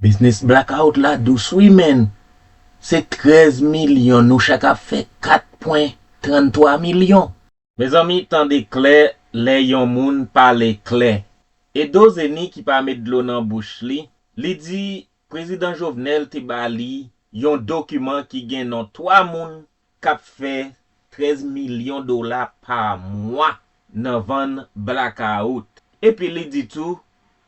Biznis blackout la dous wi menn, se 13 milyon nou chak ap fè 4 pwen 33 milyon. Mezanmi tande klè lè yon moun pale klè. Edo Zeni ki pa met dlo nan bouch li, li di Prezidan Jovenel te ba li yon dokiman ki gen non 3 moun k ap fè 13 milyon dola pa mwa nan vann blakawout. Epi li di tou,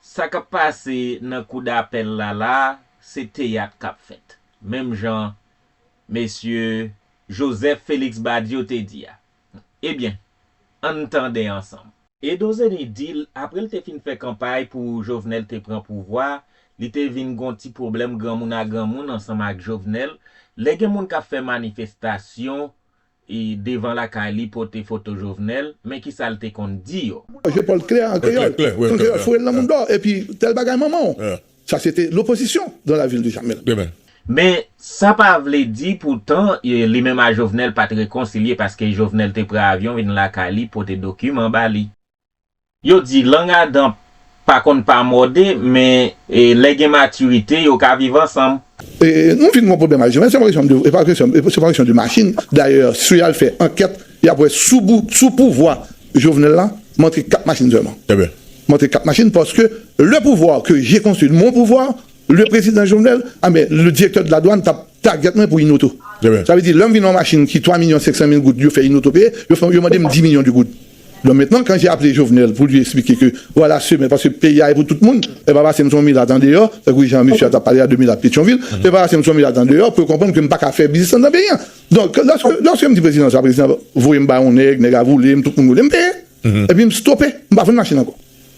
sa k ap pase nan kou dapèl la la a, se teyat k ap fèt. Menm jan Mesye Joseph Felix Badio te di a. Ebyen, an n tande ansanm. Edo Zenny di l apre l te fin fè kanpay pou Jovenel te pran pouvwa, li te vin gon ti pwoblèm granmoun a granmoun ansanm ak Jovenel, lè gen moun k ap fè manifestasyon devan lakay li pote foto Jovenel, men ki sa l te konn di yo. Jepòl klè an kreyòl. An kreyòl, foure l nan moundò epi tèl bagay manman w. Sa se te lopozisyon dan lavil de Jamèl. Men, sa pa vle di poutan, li menm a Jovenel pa t rekonsilye paske Jovenel te pran avyon vin lakay li pote dokiman ba li. Yo di, lang a dan pa konn pa mòde, men lè gen matirite, yo ka viv ansanm. E nou vin gon pwoblèm ak Jovenel, se pa kesyon de machin, dayè, si y al fè ankèt, Yap wè sou pouvwa jovenel la mantre 4 machin sèlman mantre 4 machin paske le pouvoir que j'ai construit mon pouvoir le president jovenel anben le directeur de la douane tap target mwen pou yn oto sa vle di lèm vinn yon machin ki 3 milyon 500 mil goud yo fè yn oto peye yo mandem 10 milyon de goud don mentnan kan j'ai appelé jovenel pou li esplike ke vwala semen paske peyi a e pou tout moun e pa pasem son milat andeyò tankou jan mesye a tap pale a de milat petyonvil e pa pasem son milat andeyò pou yo konprann ke m paka fè biznis anndan peyi an Donk, lòske m di prezidan sa, prezidan sa voye m bay yon nèg, nèg la voule m, tout moun voule m, m peye. Epi m stope, m pa vann machin ankò.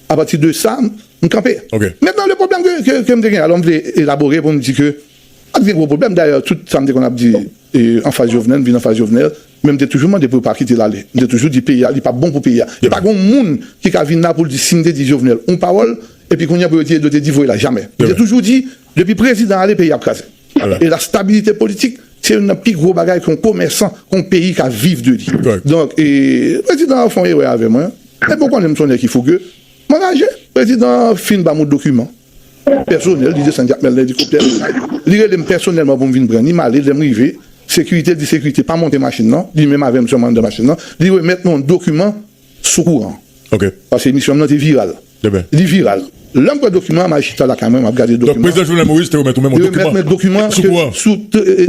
Apati de sa, m kanpe. Mentnan le pwoblèm ke m te gen, alò m vle elabore pou m di ke pa t gen gwo pwoblèm. Dayè, tout sa m te konn ap di anfas Jovenel, m vin anfas Jovenel, men m te toujou mande pou yo pa kite l ale. M te toujou di peyi a, li pa bon pou peyi a. E pa gen yon moun ki ka vin la pou l di si m te di Jovenel yon pawòl, epi kounye a pou yo di Edo te di voye l ale. Jamè. M te toujou di Depi prezidan ale peyi ap kraze. E la stabilite politik se youn nan pi gwo bagay ke yon komèsan, ke yon peyi ka viv de li. Donk e prezidan an fè yon erè avè mwen. Depi ou konnen m se yon nèg ki fouge, m angaje. Prezidan an fin ba m yon dokiman pèsonèl, li desann Jakmèl nan elikoptè li. Li rele m pèsonèlman pou m vin pran ni. M ale, lè m rive, sekirite di sekirite pa monte machin nan. Li menm avè m sèlman anndan machin nan. Li remèt mwen yon dokiman Sou kouran. Ok. Paske emisyon m nan te viral. Ebyen. Li viral. Lè m pran dokiman an, m al chita lakay mwen, m ap gade dokiman an. Donk Prezidan Jovenel Moïse te remèt ou menm yon dokiman. Te remèt mwen dokiman. Sou kouran. Sou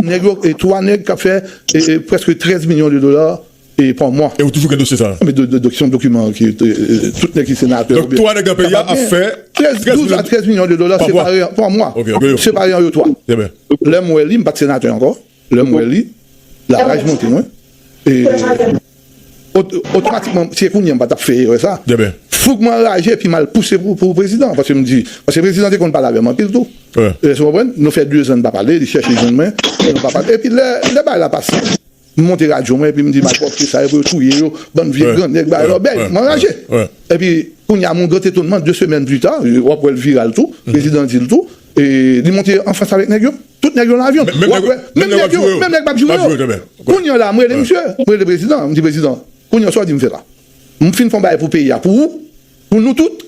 nèg yo, 3 nèg k ap fè prèske 13 milyon de dola pa mwa. E ou toujou gen dosye sa a? Mwen gen dosye sa a. Se yon dokiman ke tout nèg ki senatè. Donk 3 nèg nan peyi a ap fè. 12 a 13 milyon de dola pa mwa. Pa mwa. Ok. Separe an yo 3. Ebyen. Lè m wè li, m pa t senatè ankò. Lè m wè li, laraj monte mwen e otomatikman, si se kounye an m pa t ap fè erè sa a, fouk m anraje epi m al pouse pou prezidan an. Paske m di, paske prezidan te konn pale avè m anpil tou. Èske w konprann? Nou fè dezan n pa pale, li chèche jwenn mwen, nou pa pale. Epi lè bagay la pase, m monte radyo mwen epi m di malpwòpte sa yo pou yo touye yo, bann vye grannèg, bagay lòbèy. M anraje. Epi kounye a, moun gran etonman, de semèn pita, w ap wè l viral tou, prezidan di l tou, li monte an Frans avèk nèg yo. Tout nèg yo nan avyon. Menm nèg yo. Menm nèg yo. Menm nèg pap joure yo. Kounya la m rele misye. M rele prezidan an. M di prezidan. Kounya sa w di m fè la. M fin fè yon bagay pou peyi a pou ou. Pou nou tout.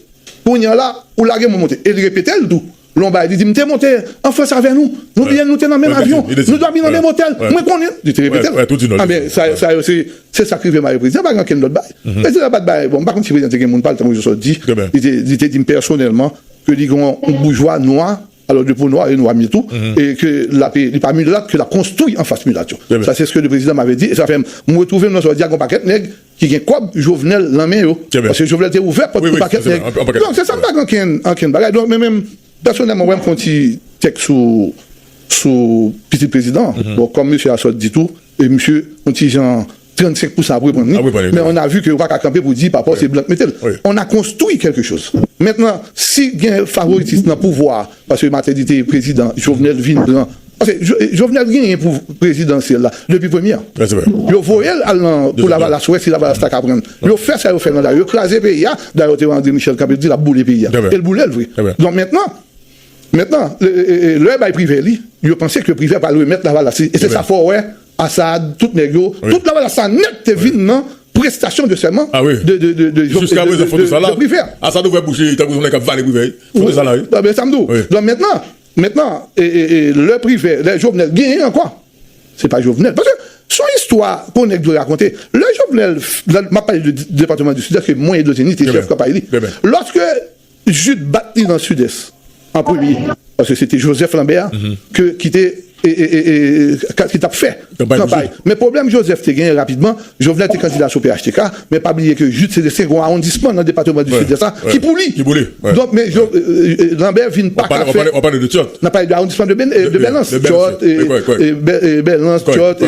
Kounya la ou lage mwen monte. E li repete l tou. Lè yon bagay li di m te monte an frans avè nou. Nou bliye nou te nan menm avyon. Nou dòmi nan menm otèl. Mwen konnen. Li te repete l. Anben sa yo se. Se sa k rive m avè prezidan. Pa gen okenn lòt bagay. Prezidan pa t bay. Bon m pa konn si prezidan te gen moun pa l tankou sa w di. Li te di m pèsonèlman ke li gen yon boujwa nwa. Alò de po nwa e nwa mye tou e ke lap li pa milat ke lap konstwi anfas milat yo sa se ske le prezidan m ave di e sa fè m mwen retwouve m nan sa w di a gon pakèt nèg ki gen kòb Jovenel lan men yo paske Jovenel te ouvè pòt pou pakèt nèg donk se sa m pa gen ankenn ankenn bagay donk men menm pèsonèlman wè m fon ti tèks sou sou pitit prezidan an bon kòm mesye a sot di tou e misye on ti jan 35 pousa ap reprann li men on a vu ke yo paka kanpe pou di papa w se blan k mete l on a konstwi kèlke choz mentnan si gen favoritism nan pouvwa paske Mateli te prezidan Jovenel vin pran paske Jovenel genyen pou prezidansyèl la depi premyè yo voye l al nan pou lavalas wè si lavalas ta ka pran l yo fè sa yo fè nan dayè yo kraze peyi a dayè w te wè Andre Michel kanpe l di l ap boule peyi a e l boule l vre donk mentnan mentnan lè yo bay Privè li yo panse ke Privè pral remèt lavalas li e se sa fè w wè Assad tout nèg yo tout lavalas sa nèt te vin nan prestasyon de sèman de privert Assad ouvè bouch li tankou yon nèg kap vale privert foto sa la wi men sa m di w mentnan mentnan lè privert lè jovenel genyen ankò se pa jovenel paske s on istwa ke yon nèg dwe rakonte lè jovenel map pale de departement du sud est ke mwen edozeni te chèf kanpay li lòske Jude bat li nan Sud-Est an premye paske se te Joseph Lambert ke ki te ki tap fè kanpay men pwoblèm Joseph te genyen rapidman Jovenel te kandida sou phtk men pa bliye ke Jude se te segon awondisman nan depateman du Sud-Est la ki pou li donk men Lambert vin pa ka fè nap pale de awondisman de Belens Tchòt Belens Tchòt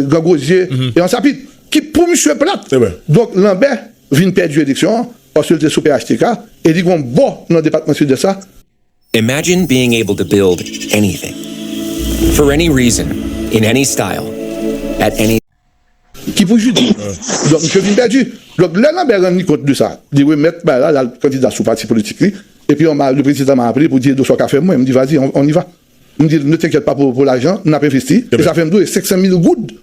Grand Gosier e Ansapit ki pou misye plat donk Lambert vin pèdi eleksyon an Paske l te sou phtk e li gen yon bò nan depatman Sud-Est la. Imagine being able to build anything, for any reason, in any style, at any. Ki pou Judy. Donk misye vin pèdi. Donk lè Lambert rann li kont de sa, li remèt bagay la, l al kandida sou pati politik li. Epi yon mar, le prezidan ma aple pou di Edo sa w ka fè pou mwen? M di vas-y, on y va. M di l ne t'inquiète pas pou lajan, n ap envesti. E sa fè m di w e 500 mil goud.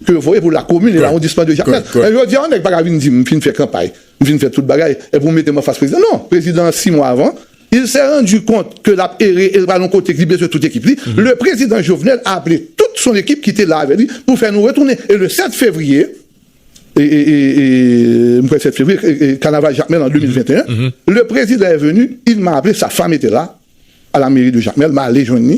ke yo voye pou lakomin e lawondisman de Jakmèl. Men jodi a yon nèg pa ka vin di m m fin fè kanpay, m fin fè tout bagay epi w mete m anfas prezidan. Non, prezidan an 6 mwa avan, il s'est rendu kont ke l ap ere e l pa nan kote ke li bezwen tout ekip li. Le prezidan Jovenel a aple tout son ekip ki te la avè li pou fè nou retounen e le 7 fevriye, m kwè 7 fevriye, kanaval Jakmèl an 2021, le prezidan est venu, il m'a appelé, sa femme était là, A la mairie de Jacmel m ale jwenn li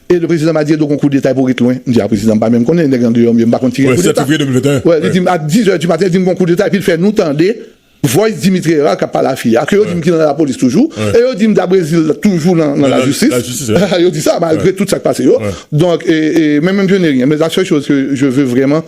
e le prezidan m a di Edo gon kou deta epi w ret lwen m di a prezidan m pa menm konnen nèg andeyò m yo m pa konn si gen kou deta wè li di m a 10 è di maten li di m gon kou deta epi l fè nou tande voice Dimitri Herard k ap pale a fi a ke yo di m ki nan lapolis toujou e yo di m da Brezil toujou nan nan lajistis yo di sa malgre tout sa k pase yo donk e menm m je n'ai rien men la sèl choz ke je ve vreman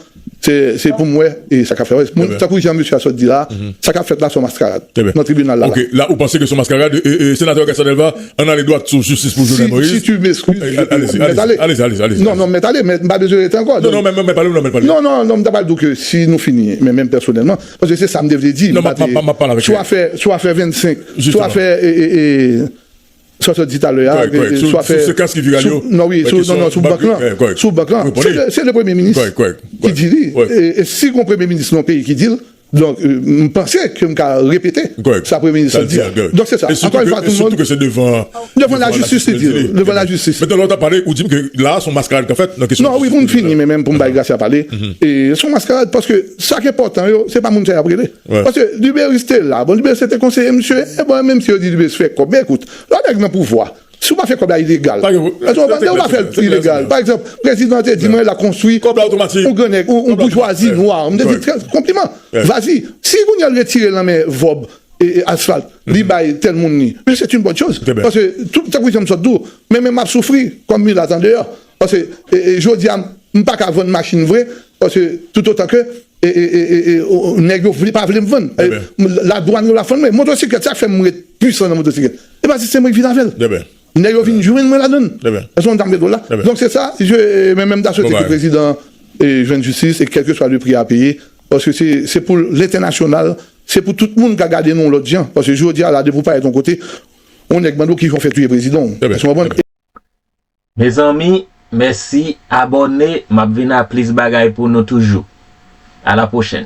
Se pou m wè e sa k ap fèt. Tankou jan mesye a sot di la, sa k ap fèt la se yon maskarad nan tribinal la. Ok, la ou panse ke se yon maskarad? Senatè Gaston Delva, ann ale dwat sou jistis pou Jovenel Moïse. Si tu m'excuses, je te prie. Mèt ale. Alezi, alezi, alezi. Non, non, mèt ale, mèt m pa bezwen rete ankò. Non, non, mèt ale, mèt ale. Non, non, non, m ta pral di w ke si nou fini, men menm pèsonèlman, paske se sa m te vle di. Non, m ap pale avèk ou. Sou afè, sou afè 25, sou afè e, e, e. Sa w sot di talè a, swa fè. Sou sekans ki viral yo? Non, wi, sou bank lan. Kòrèk. Sou bank lan. Kòrèk. Se le premye minis. Kòrèk, kòrèk. Ki di li. Kòrèk. E si gon premye minis nan yon peyi ki di l, donk m panse ke m ka repete. Kòrèk. Sa premye minis lan di a. Kòrèk. Donk se sa. Ankò yon fwa tout moun. E sitou ke se devan. Devan la jistis li di l. Devan la jistis. Mèt lò w t ap pale, ou di m ke la a s on maskarad k ap fèt nan kesyon. Non, wi, pou m fini menm, pou m bay Gracia pale. E s on maskarad paske sa k enpòtan yo, se pa moun sa y ap rele. Paske Duberice te la, bon Duberice se te konseye misye, e bon menm si yo di Duberice fè kòb, men ekout, lò nèg nan pouvwa, si w pa fè kòb la ilegal, èske w konprann, lè w pa fè l ilegal, pa egzanp, prezidan te di mwen la konstwi yon gran nèg, yon boujwazi nwa, m te di konpliman, vazi, si kounyè l retire l nan men vòb asfalt, li bay tèl moun li, men sèt yn bòn choz, paske tout tankou jan m sot di w, men menm m ap soufri kòm milat andeyò, paske jodia m paka vann machin vre paske toutotan ke nèg yo pa vle m vann la dwann yo la fann mwen motosiklèt sak fèm ret pwisan nan motosiklèt epa se semwen ki vin avèl nèg yo vin jwenn mwen ladann èske w konn sa m vle di w la donk se sa men men m ta swete ke prezidan jwenn jistis e kèlkeswa le pri a peye paske se pou lentènasyonal se pou tout moun ka gade nou lòt jan paske jodia la depi w parèt yon kote yon nèg mande w kijan w fè touye prezidan w èske w konprann. Mezanmi mèsi abòne map vin a plis bagay pou nou toujou a la pwochèn.